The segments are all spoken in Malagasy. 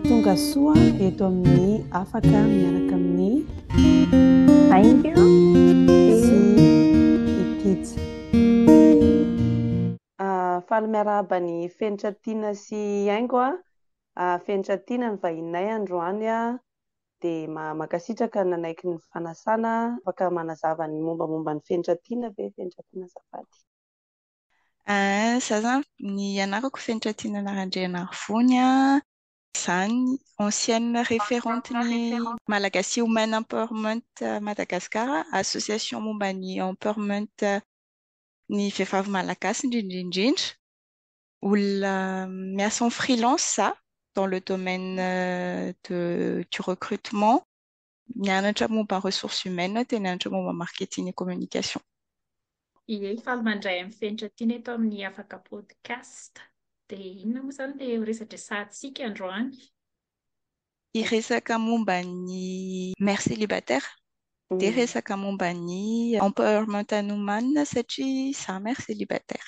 Tonga soa eto amin'ny afaka miaraka amin'ny Thank you. sy Itij. Ah, faly miarahaba ny Fenitra Tiana sy Haingo a. Ah, Fenitra Tiana ny vahininay androany a. Dia ma- mankasitraka nanaiky ny fanasana. Afaka manazava ny mombamomba ny Fenitra Tiana ve Fenitra Tiana azafady? Aah, za zany ny anarako fenitra Tinana Randrianarivony an. Zany ancienne referente ny Malagasy Women Empowerment Madagascar, association momba ny empowerment ny vehivavy malagasy indrindra indrindra. Olona miasa en freelance za dans le domaine de du recrutement. Nianatra momba ressources humaines aho dia nianatra momba marketing et communication. Ie, faly mandray amin'ny fenitra tiana eto amin'ny Afaka Podcast. Dia inona moa izany ilay ho resa-dresahantsika androany? Hiresaka momba ny mère célibataire, dia hiresaka momba ny empowerment an'ny omanina satria izaho mère célibataire.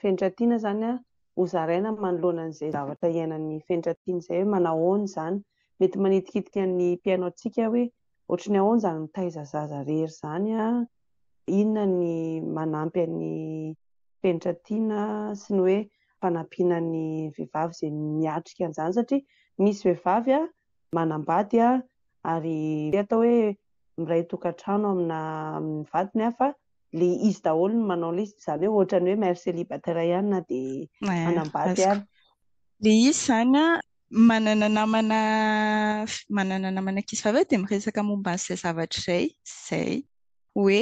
fenitra tiana izany an, ho zaraina manoloana an'izay zavatra iainan'ny fenitra tiana izay hoe manao ahoana izany, mety manitikitika ny mpihaino antsika hoe ohatry ny ahoana izany mitaiza zaza irery izany an, inona ny manampy an'ny fenitra tiana sy ny hoe fanampiana ny vehivavy izay miatrika an'izany satria misy vehivavy an manambady an ary atao hoe miray tokantrano amina amin'ny vadiny an fa le izy daholo no manao liste izany hoe ohatrany hoe mère célibataire ihany na de manambady ary le izy izany a manana namana manana namana ankizy vavy dia miresaka momba an'izay zavatra izay izay hoe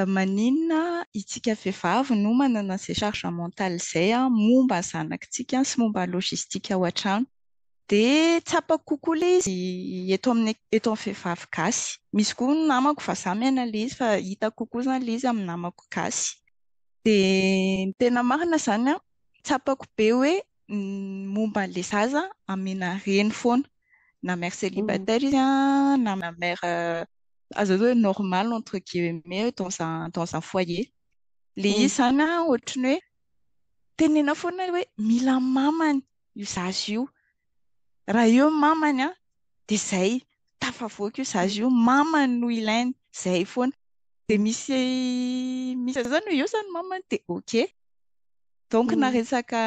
maninona itsika vehivavy no manana izay charge mentale izay a momba ny zanakitsika sy momba ny logistique ao an-trano Dia tsapako kokoa ilay izy eto amin'ny eto amin'ny vehivavy gasy. Misy koa ny namako vazaha miaina ilay izy fa hitako kokoa izany ilay izy amin'ny namako gasy. Dia ny tena marina izany an, tsapako be hoe ny momba an'ilay zaza amena reny foana. Na mère célibataire izy an, na mère azo atao hoe normale entre guillemets dans un dans un foyer. Ilay izy izany an, ohatran'ny hoe tenenina foana hoe mila mamany. io zaza io. Raha eo ny mamany dia izay, tafavoaka io zaza io, ny mamany no ilainy. Izay foana. Dia misy misy an'izany hoe eo izany ny mamany dia ok. Donc na resaka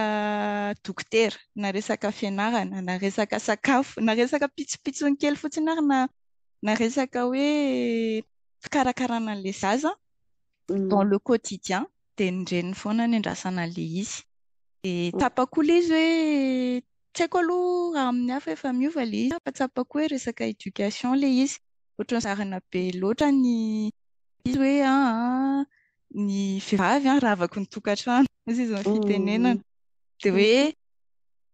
dokotera, na resaka fianarana, na resaka sakafo, na resaka pitsopitsony kely fotsiny ary na na resaka hoe fikarakarana an'ilay zaza, dans le quotidien dia ny reniny foana ny andrasana an'ilay izy. Dia tsapako ilay izy hoe tsy haiko aloha raha amin'ny hafa efa miova ilay izy fa tsapako hoe resaka éducation ilay izy. Ohatran'ny zarina be loatra ny izy hoe ny vehivavy ravaky ny tokantrano, hoy izy amin'ny fitenenana. Dia hoe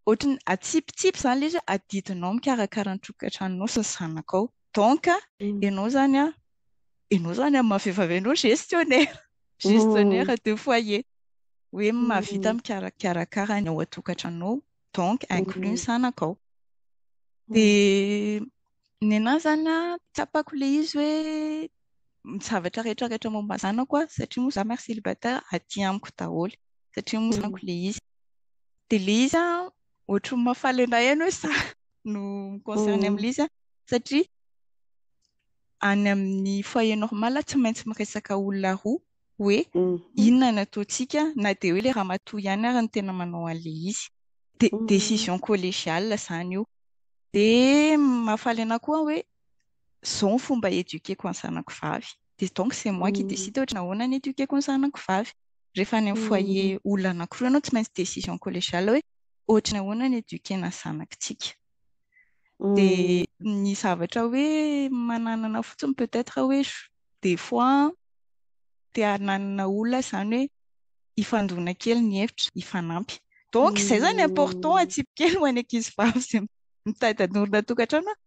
ohatran'ny atsipitsipy izany ilay izy hoe adidinao mikarakara ny tokantranonao sy ny zanakao. donc ianao zany a ianao zany amin'ny maha-vehivavy anao gestionnaire gestionnaire de foyer hoe mahavita mikarakara ny ao an-tokantranonao donc inclus ny zanakao dia ny anahy zany a tsapako ilay izy hoe ny zavatra rehetra rehetra momba ny zanako a satria moa za mère célibataire aty amiko daholo satria moa zanako ilay izy dia ilay izy a ohatran'ny mahafaly anay ihany hoe sahy no mi-concerne amin'ilay izy an, satria any amin'ny foyer normal tsy maintsy miresaka olona roa hoe inona no ataontsika na dia hoe ilay ramatoa ihany ary no tena manao an'ilay izy. Dia décision collégiale izany io. Dia mahafaly anà koa aho hoe izao ny fomba hi-eduquer-ko ny zanako vavy. dia donc c'est moi qui décide ohatra nahoana ny éduquer-ko ny zanako vavy. Rehefa any amin'ny foyer olona anankiroa ianao tsy maintsy décision collégiale hoe ohatra ny ahoana ny éduquer-na ny zanakitsika. Dia ny zavatra hoe mananana fotsiny peut-être hoe des fois te hananana olona izany hoe hifandona kely ny hevitra, hifanampy. Donc izay izany important atsipy kely ho an'ny ankizivavy izay mitady hanorina tokantrano hoe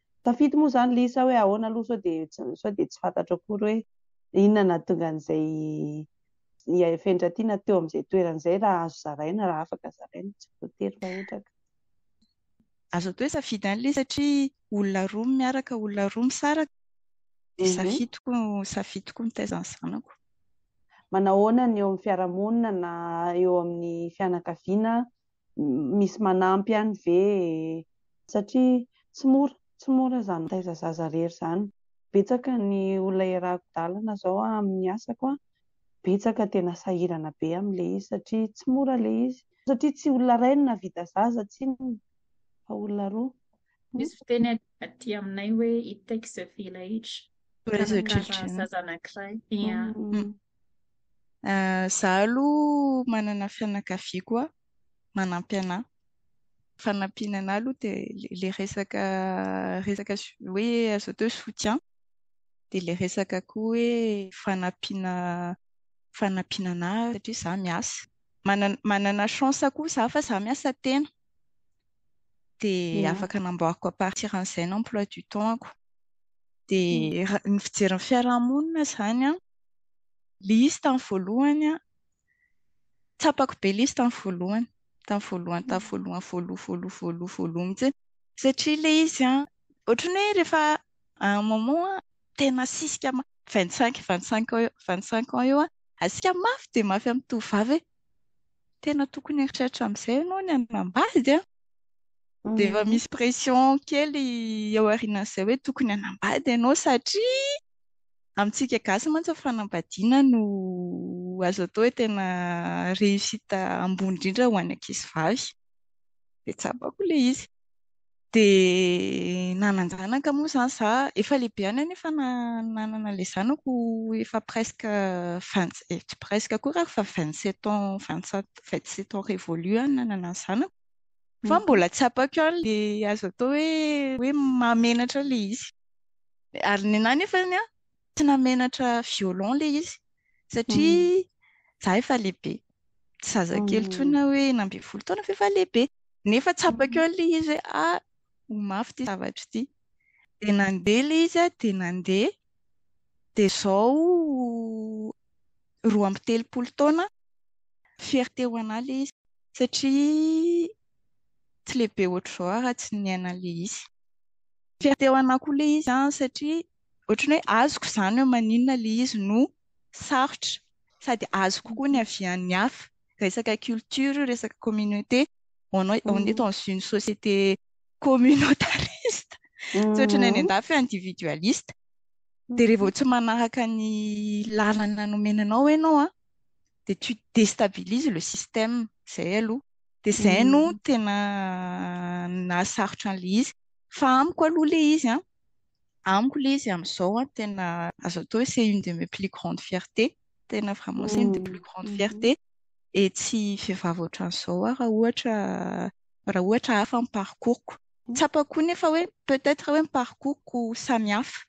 Tafity moa izany Lisa hoe ahoana aloha sao dia sao dia tsy fantatro akory hoe inona nahatonga an'izay i Fendratiana teo amin'izay toerana izay raha azo zaraina, raha afaka zaraina, tsy voatery mahetraka. Azo atao hoe safidy ihany ilay satria olona roa no miaraka, olona roa misaraka, dia mhm. safidiko safidiko mitaiza ny zanako. Manahoana ny eo amin'ny fiarahamonina na eo amin'ny fianakaviana misy manampy any ve satria tsy mora tsy mora izany mitaiza zaza irery izany, betsaka ny olona iarahako dalana izao amin'ny asako an, betsaka tena sahirana be amin'ilay izy satria tsy mora ilay izy satria tsy olona iray no nahavita zaza tsinona fa olona roa. Misy fiteny aty aminay hoe it takes a village, mikarakara zaza anankiray, ia. Za aloha manana fianakavia koa manampy anah. Fanampiana anah aloha dia ilay resaka resaka hoe azo atao hoe soutien, dia ilay resaka koa hoe fanampiana fanampiana anah satria za miasa. Manana manana chance koa za fa za miasa tena. dia afaka namboariko à partir an'izay ny emploi du temps-ko. Dia ny fijery ny fiarahamonina izany an, Lisy tamin'ny voalohany an, tsapako be Lisy tamin'ny voalohany, tamin'ny voalohany tamin'ny voalohany, voaloha, voaloha, voaloha, voaloha mihitsy. Satria ilay izy an, ohatran'ny hoe rehefa à un moment tena asisika mafy, vingt cinq, vingt cinq ans eo, vingt cinq ans eo an, asisika mafy dia mafy amin'ny tovovavy hoe tena tokony eritreritra amin'izay ianao ny hanambady an! Dia efa misy pression kely eo aorianan'izay hoe tokony hanambady ianao satria amintsika gasy mantsy ny fanambadiana no azo atao hoe tena réussite ambony indrindra ho an'ny ankizivavy. Dia tsapako ilay izy. Dia nanan-janaka moa izany za, efa lehibe ihany aho nefa nanana ilay zanako efa presque vingt, eh tsy presque akory aho fa vingt sept ans, vingt sept, vingt sept ans révolus aho no nanana ny zanako fa mbola tsy tsapako ihany ilay azo atao hoe hoe mahamenatra ilay izy. Ary ny anah nefany an, tsy namenatra violon le izy satria za efa lehibe tsy zazakely tsony na hoe enina ambin'ny folo taona f'efa lehibe nefa tsapako eo le izy a ho mafy ity zavatra ity de nandeha le izy a de nandeha de zao roa amby telopolo taona fierté ho anah le izy satria tsy lehibe ohatr'izao aho raha tsy niaina le izy fierté ho anah koa le izy a satria ohatran'ny hoe azoko izany hoe maninona ilay izy no sarotra sady azoko koa ny havian'ny hafa. Resaka culture io, resaka communauté. On est, on est dans une société communautariste. Tsy ohatran'ny any an-dafy hoe individualiste. Dia raha vao tsy manaraka ny lalana nomena anao ianao an, dia tu destabilises le système. Izay aloha. Dia izay no tena nahasarotra an'ilay izy. Fa amiko aloha ilay izy an, amiko le izy amizao an tena azo atao hoe c'est une de mes plus grandes fiertés tena vraiment c'est une de plus grandes fiertés et tsy vehivavy ohatran'izao aho raha ohatra raha ohatra hafa ny parcours-ko tsapako koa nefa hoe peut-être hoe ny parcours-ko samy hafa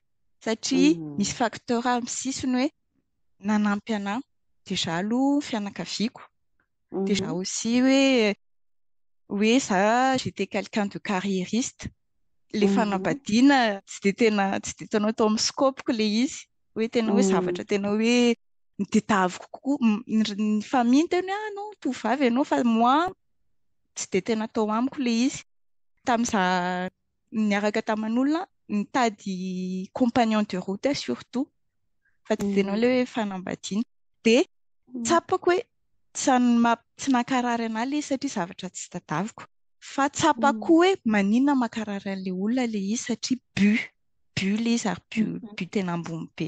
satria misy facteur amin'ny sisiny hoe nanampy anahy déjà aloha fianakaviako Dia za aussi hoe hoe za j'étais quelqu'un de carriériste. Ilay fanambadiana tsy dia tena tsy dia tena tao amin'ny scope-ko ilay izy. Hoe tena hoe zavatra tena hoe nitadiaviko kokoa. Ny famille no tena hoe ah non, tovovavy ianao fa moi tsy dia tena tao amiko ilay izy. Tamin'izaho niaraka taman'olona nitady compagnon de route surtout fa tsy dia nao le hoe fanambadiana dia tsapako hoe tsy tsy nankarary anah le satria zavatra tsy tadaviko fa tsapako hoe manina mankarary an'le olona le izy satria bu bu le izy ary bu bu tena ambony be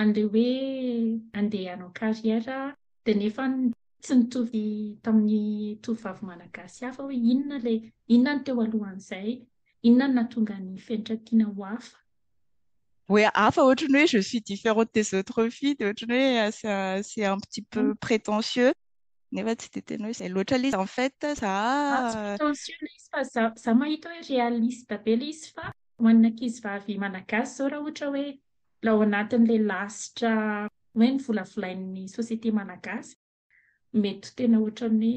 an'ilay hoe andeha hanao carrière dia nefa tsy nitovy tamin'ny tovovavy malagasy hafa hoe inona ilay inona ny teo alohan'izay, inona no nahatonga ny fenitra tiana ho hafa. Hoe hafa ohatry ny hoe je suis différente des autres filles dia ohatry ny hoe c'est un petit peu mm. prétentieux nefa tsy dia tena hoe izay loatra ilay izy en fait za ah, prétentieux ilay izy fa za za mahita hoe réaliste be ilay izy fa Ho an'ny ankizivavy malagasy izao raha ohatra hoe mbola ao anatin'ilay lasitra hoe ny volavolain'ny société malagasy, mety tena ohatran'ny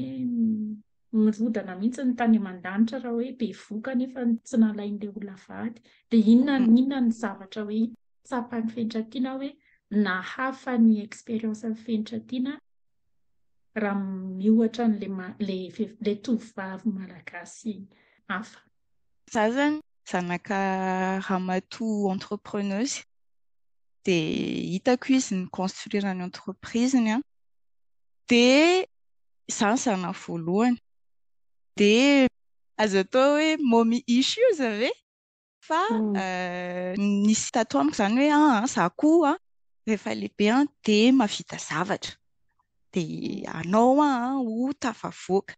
hoe mirodana mihitsy ny tany aman-danitra raha hoe bevoka nefa tsy nalain'ilay olona vady. Dia inona inona ny zavatra hoe tsapan'ny fenitra tiana hoe nahafa ny expérience-n'ny fenitra tiana raha miohatra an'ilay ilay tovovavy malagasy hafa? zazany, zanaka ramatoa entrepreneuse, dia hitako izy ni-construire ny entreprise-ny an, dia izaho ny zanany voalohany, dia azo atao hoe mommy issues ve? fa nisy tato amiko izany hoe an izaho koa rehefa lehibe dia mahavita zavatra, dia anao aho ho tafavoaka.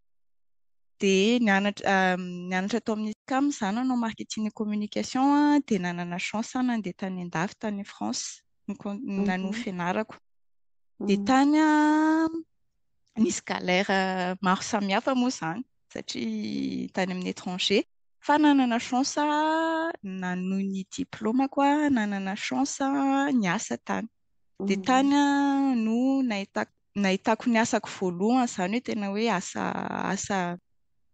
Dia nianatra nianatra tao amin'ny SCAM izaho nanao marketing et communication dia nanana chance aho nandeha tany an-dafy tany France nanao ny fianarako. Dia tany nisy galère maro samihafa moa izany satria tany amin'ny étranger. Fa nanana chance aho nanohy ny diplaomako aho, nanana chance aho niasa tany. Dia mhm. tany no nahitako nahitako ny asako voalohany izany hoe tena hoe asa asa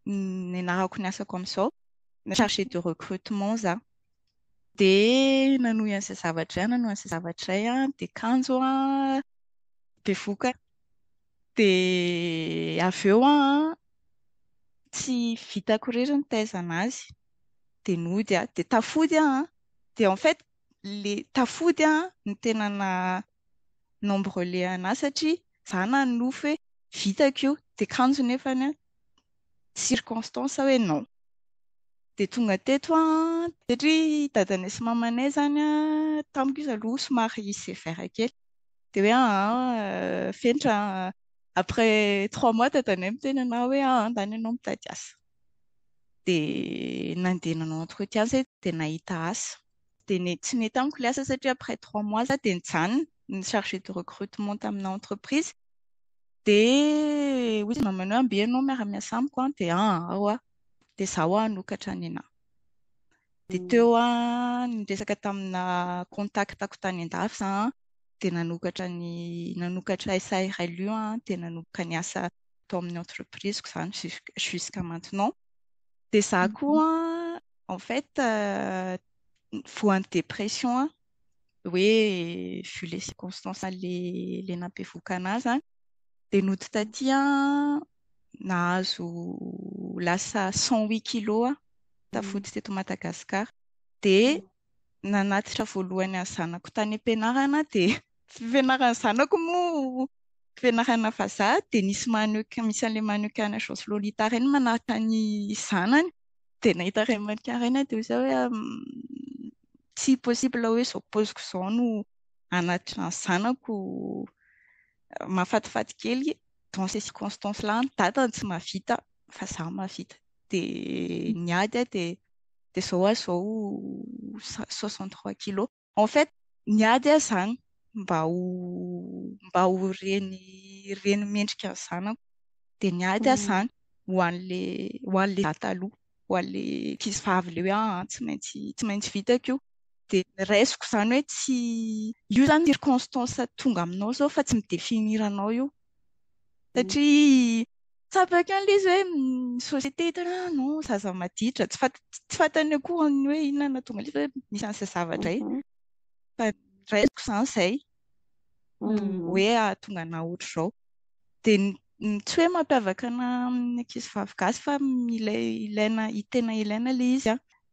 nenarako ny asako amin'izao na chargé de recrutement za dia nanohy an'izay zavatra izay nanohy an'izay zavatra izay an dia kanjo an bevoka dia avy eo an tsy vitako irery ny taizana azy dia nody aho dia tafody aho dia en fait le tafody an ny tena na nombre le anah satria za nanofy hoe vitako io de kanjo nefany an circonstance hoe non de tonga teto an satria dadanay sy mamanay zany an tamiko izy aloha somary sévère kely de hoe aa fenitra an après trois mois dadanay miteny anah hoe aa ndany ianao mitady asa dia nandeha nanao entretien izahay dia nahita asa. Dia ne- tsy nety amiko ilay asa satria après trois mois za dia nijanona ny chargé de recrutement tamina entreprise. Dia hoy izy namana hoe amby ianao miara-miasa amiko an, dia an, ao aho. Dia za hoa hanokatra ny anah. Dia teo an, niresaka tamina contact-ko tany an-dafy za an, dia nanokatra ny, nanokatra SARLU an, dia nanomboka niasa tao amin'ny entreprise-ko izany jusqu', jusqu'à maintenant. Dia za koa an, en fait, voan'ny dépression an, hoe vu les circonstances ilay nampihevokana ahy izany dia nody taty aho nahazo lasa cent huit kilo aho tafody teto Madagasikara dia nanatitra voalohany ny zanako tany am-pianarana aho dia fianaran'ny zanako moa fianarana vazaha dia nisy maneho, misy an'ilay maneho an'i Agence Lolita ireny manaraka ny zanany. dia nahita remarque iray na dia ho izao hoe tsy possible hoe izao paoziko izao no hanatitra ny zanako mahafatifaty kely dans ces circonstances là ny dadany tsy mahavita fa za mahavita dia ny ady dia dia izao aho izao soixante trois kilos En fait ny ady aho izany mba ho mba ho reny reny mendrika ny zanako dia ny ady aho izany ho an'ilay ho an'ilay za taloha ho an'ilay ankizivavy ilay hoe aa tsy maintsy tsy maintsy vitako io dia ny raisiko izany hoe tsy io izany circonstance tonga aminao izao fa tsy mi-definir anao io Satria tsapako ihany ilay izy hoe ny société hitany hoe ah non zaza maditra. Tsy fant- tsy fantany akory ny hoe inona no nahatonga an'ilay izy hoe misy an'izay zavatra izay. Mhm. Fa raisiko izany izay Mhm. hoe hahatonga anà ohatr'izao. Dia ny- ny tsy hoe mampiavaka anà amin'ny ankizivavy gasy fa ilay ilaina, tena ilaina ilay izy an.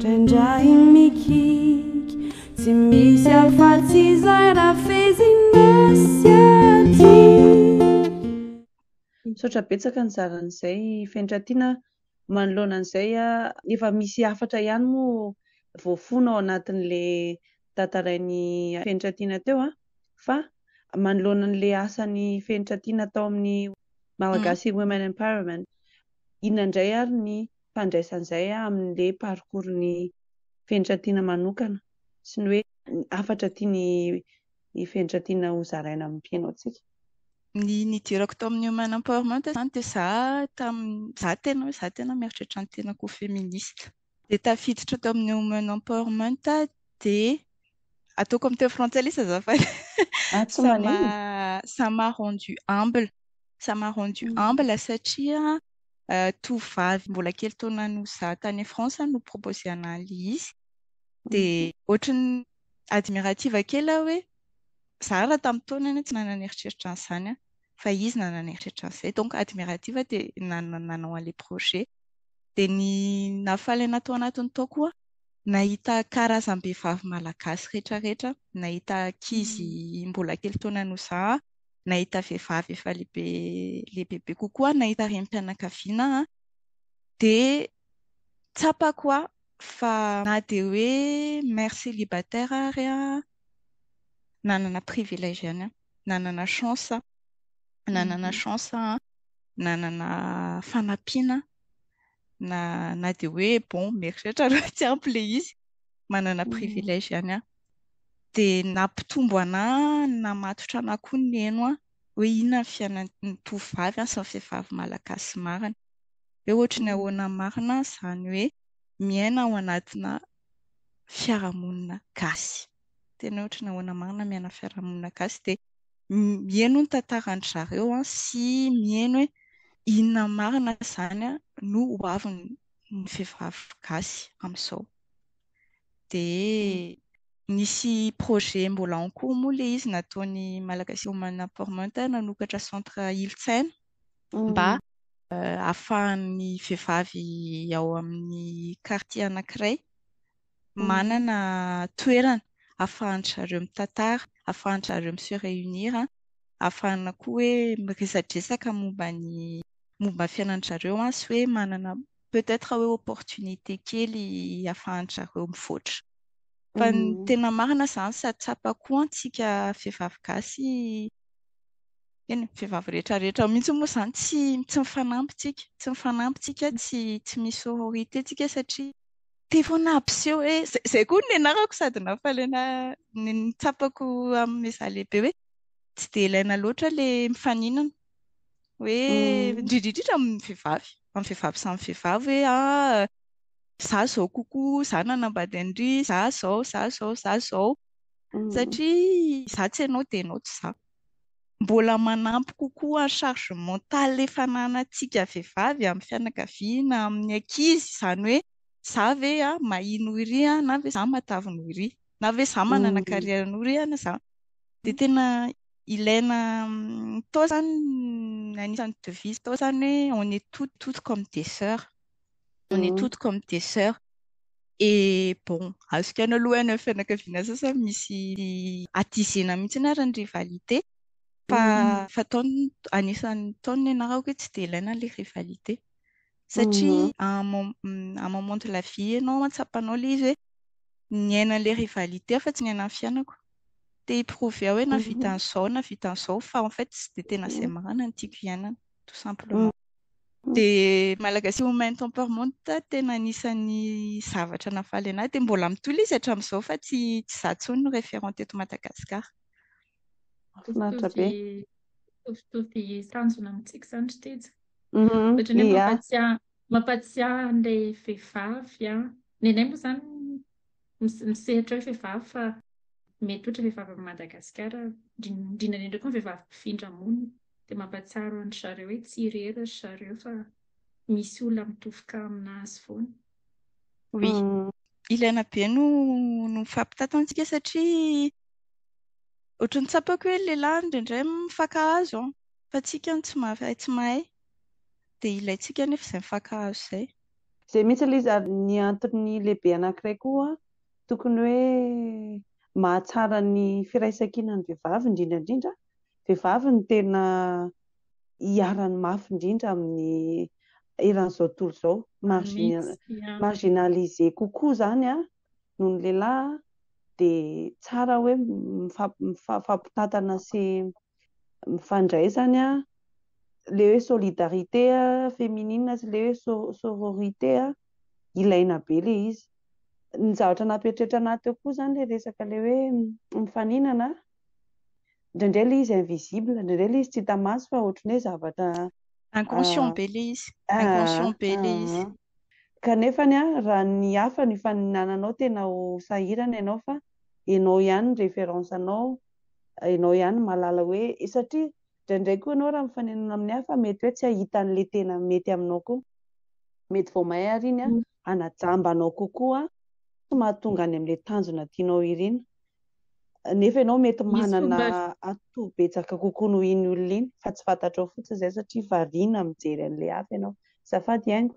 Trandrahiny mikiky tsy misy afa-tsy izay rafezina sy aty. Misaotra betsaka nizara an'izay Fenitra Tiana a! Manoloana an'izay a, efa misy hafatra ihany moa voafono ao anatin'le tantarain'i Fenitra Tiana teo a! fa manoloana an'le asan'i Fenitra Tiana tao amin'ny Malagasy Women Empowerment, inona indray ary ny fandraisana izay amin'ilay parcours ny fenitra tiana manokana sy ny hoe ny hafatra tiany ny fenitra tiana ho zaraina amin'ny mpianaontsika. Ny nidirako tao amin'ny Human Empowerment izany dia za tamin'ny, za tena hoe za tena mieritreritra ny tenako ho feminista. Dia tafiditra tao amin'ny Human Empowerment dia ataoko amin'ny teny frantsay lesy azafady Ah tsy manino. ça m'a ça m'a rendu humble, ça m'a rendu humble satria tovovavy mbola kely taona noho izaho tany France no proposer an'ahy izy dia ohatry ny admirative kely aho hoe izaho raha tamin'ny taona anie tsy nanana eritreritra an'izany an! fa izy nanana eritreritra an'izay donc admirative dia nanao an'ilay projet dia ny nahafaly an'ahy tao anatin'ny tao koa nahita karazam-behivavy malagasy rehetra rehetra nahita ankizy mbola kely taona noho izaho nahita vehivavy efa lehibe lehibe kokoa aho, nahita renim-pianakaviana aho dia tsapako aho fa na dia hoe mère célibataire ary aho, nanana privilège ihany aho, nanana chance aho, nanana chance aho, nanana fanampiana aho, na dia hoe bon mieritreritra aloha tsy ampy ilay izy, manana privilège ihany aho. dia nampitombo anah namatotra anah koa niheno aho hoe inona ny fiainan'ny tovovavy sy ny vehivavy malagasy marina hoe ohatry ny ahoana marina izany hoe miaina ao anatina fiarahamonina gasy tena hoe ohatry ny ahoana marina miaina fiarahamonina gasy dia mihaino ny tantaran-dry zareo aho sy mihaino hoe inona marina izany no ho avin'ny vehivavy gasy amin'izao dia nisy projet mbola en cours moa ilay izy nataon'ny Malagasy Human Empowerment nanokatra centre Ilotsaina mba ahafahan'ny vehivavy ao amin'ny quartier anankiray manana toerana ahafahan-dry zareo mitantara, ahafahan-dry zareo mi-se réunir, ahafahana koa hoe miresadresaka momba ny momba ny fiainan'ny zareo sy hoe manana peut être hoe opportunité kely afahan-dry zareo mivoatra. Fa ny tena marina izany sady tsapa koa antsika vehivavy gasy, eny, ny vehivavy rehetrarehetra mihitsy moa izany tsy tsy mifanampy tsika, tsy mifanampy tsika, tsy tsy misy sororité tsika satria. Teo foana hampiseho hoe, izay izay koa no nianarako sady nafaliana ny ny tsapako amin'izaho lehibe hoe tsy dia ilaina loatra ilay mifaninana. hoe indrindrindrindra amin'ny vehivavy amin'ny vehivavy samy vehivavy hoe ah za zao kokoa za nanambady an'ry za zao za zao za zao satria za tsy ianao dia ianao tsy za mbola manampy kokoa ny charge mentale efa ananantsika vehivavy amin'ny fianakaviana amin'ny ankizy izany hoe za ve ah mahia noho iry ah na ve za matavy noho iry na ve za manana carrière noho ry an za dia tena ilaina tao zany anisan'ny devise tao zany hoe on est tout tout comme des sœurs on est tout comme des sœurs et bon azoko ihany aloha any fianakaviana sasany misy atizena mihitsy ary ny rivalité fa fa tao anisan'ny tao ny anarako hoe tsy dia ilaina ilay rivalité satria à un mo- mm, à un moment de la vie ianao an, tsapanao ilay izy hoe niaina an'ilay rivalité aho fa tsy niaina ny fiainako. Te hi-prouver aho hoe na vita an'izao na vita an'izao fa en fait tsy dia tena izay marina no tiako hiainana, tout simplement. Dia Malagasy Women Temperament tena anisan'ny zavatra nahafaly anahy dia mbola mitohy ilay izy hatramin'izao fa tsy tsy izaho intsony no référent teto Madagasikara. Mahafinaritra be. Mitovy mitovy tanjona amintsika izany ry Teja. Ohatran'ny mampatsiahy mampatsiahy an'ilay vehivavy an. Nenay moa izany misehatra hoe vehivavy fa mety ohatra vehivavy amin'i Madagasikara, indrindra indrindra koa ny vehivavy mpifindra monina dia mampahatsiaro an-dry zareo hoe tsy irery ry zareo fa misy olona mitofoka aminazy foana. Oui. Ilaina be no no fampitataontsika satria ohatran'ny tsapako hoe ny lehilahy indraindray mifankahazo an. Fa tsika no tsy maharay tsy mahay dia ilaintsika anefa izay mifankahazo izay. Izay mihitsy ilay izy ary ny antony lehibe anankiray koa tokony hoe mahatsara ny firaisankinan'ny vehivavy indrindra indrindra, vehivavy no tena iharany mafy indrindra amin'ny eran'izao tontolo izao, marginalisé kokoa izany noho ny lehilahy dia tsara hoe mifampitantana sy mifandray izany an, ilay hoe solidarité féminine sy ilay hoe sororité an, ilaina be ilay izy. Ny zavatra nampieritreritra anah teo koa izany ilay resaka ilay hoe mifaninana an, indraindray ilay izy invisible, indraindray ilay izy tsy hita maso fa ohatry ny hoe zavatra Inconscient be ilay izy, inconscient be ilay izy. Kanefa an, raha ny hafa no ifaninananao tena ho sahirana ianao fa ianao ihany ny référence anao, enao ihany mahalala hoe satria ndraindray koa enao raha mifanenona amin'ny hafa mety hoe tsy ahita an'ilay tena mety aminao koa. Mety vao may ary iny hanajamba anao kokoa sy mahatonga any amin'ilay tanjona tianao irina. Nefa enao mety manana atoa betsaka kokoa noho iny olona iny fa tsy fantatrao fotsiny izay satria variana mijery an'ilay hafa enao. Azafady Aingo.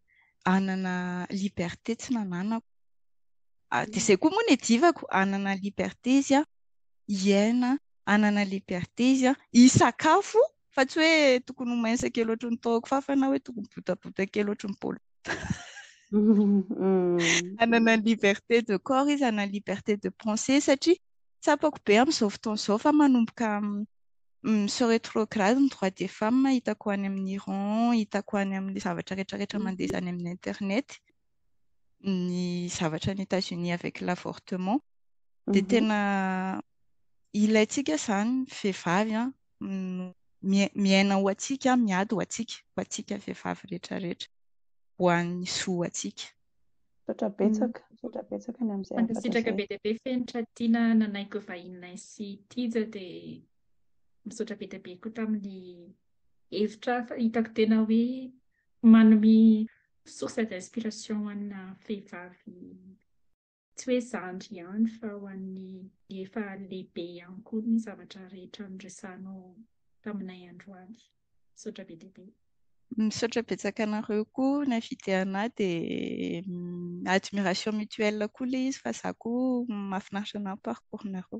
hanana liberté tsy nananako. Ah, dia izay koa moa ny adivako, hanana liberté izy an, hiaina, hanana liberté izy an, hisakafo, fa tsy hoe tokony ho mince kely ohatry ny taoko fafa na hoe tokony botabota kely ohatry ny paolo. Hanana liberté de corps izy, hanana liberté de pensée, satria tsapako be amin'izao fotoana izao fa manomboka Monsieur retrograde ny droit des femmes hitako any amin'ny Iran, hitako any amin'ny zavatra rehetra rehetra mandeha izany amin'ny internet, ny zavatra any Etats Unis avec l'avortement, dia tena ilaintsika izany vehivavy an, miaina ho antsika, miady ho antsika, ho antsika vehivavy rehetra rehetra, ho an'ny zo antsika. Misaotra betsaka, misaotra betsaka ny amin'izay afaka Mankasitraka be dia be Fenitra Tiana nanaiky vahininay sy Tija dia misaotra be dia be koa tamin'ny hevitra fa hitako tena hoe manome source d'inspiration ho anà vehivavy tsy hoe zandry ihany fa ho an'ny efa lehibe ihany koa ny zavatra rehetra noresahanao taminay androany. Misaotra be dia be. Misaotra betsaka anareo koa nividy anah dia admiration mutuelle koa ilay izy fa za koa mahafinaritra anah ny parcours nareo.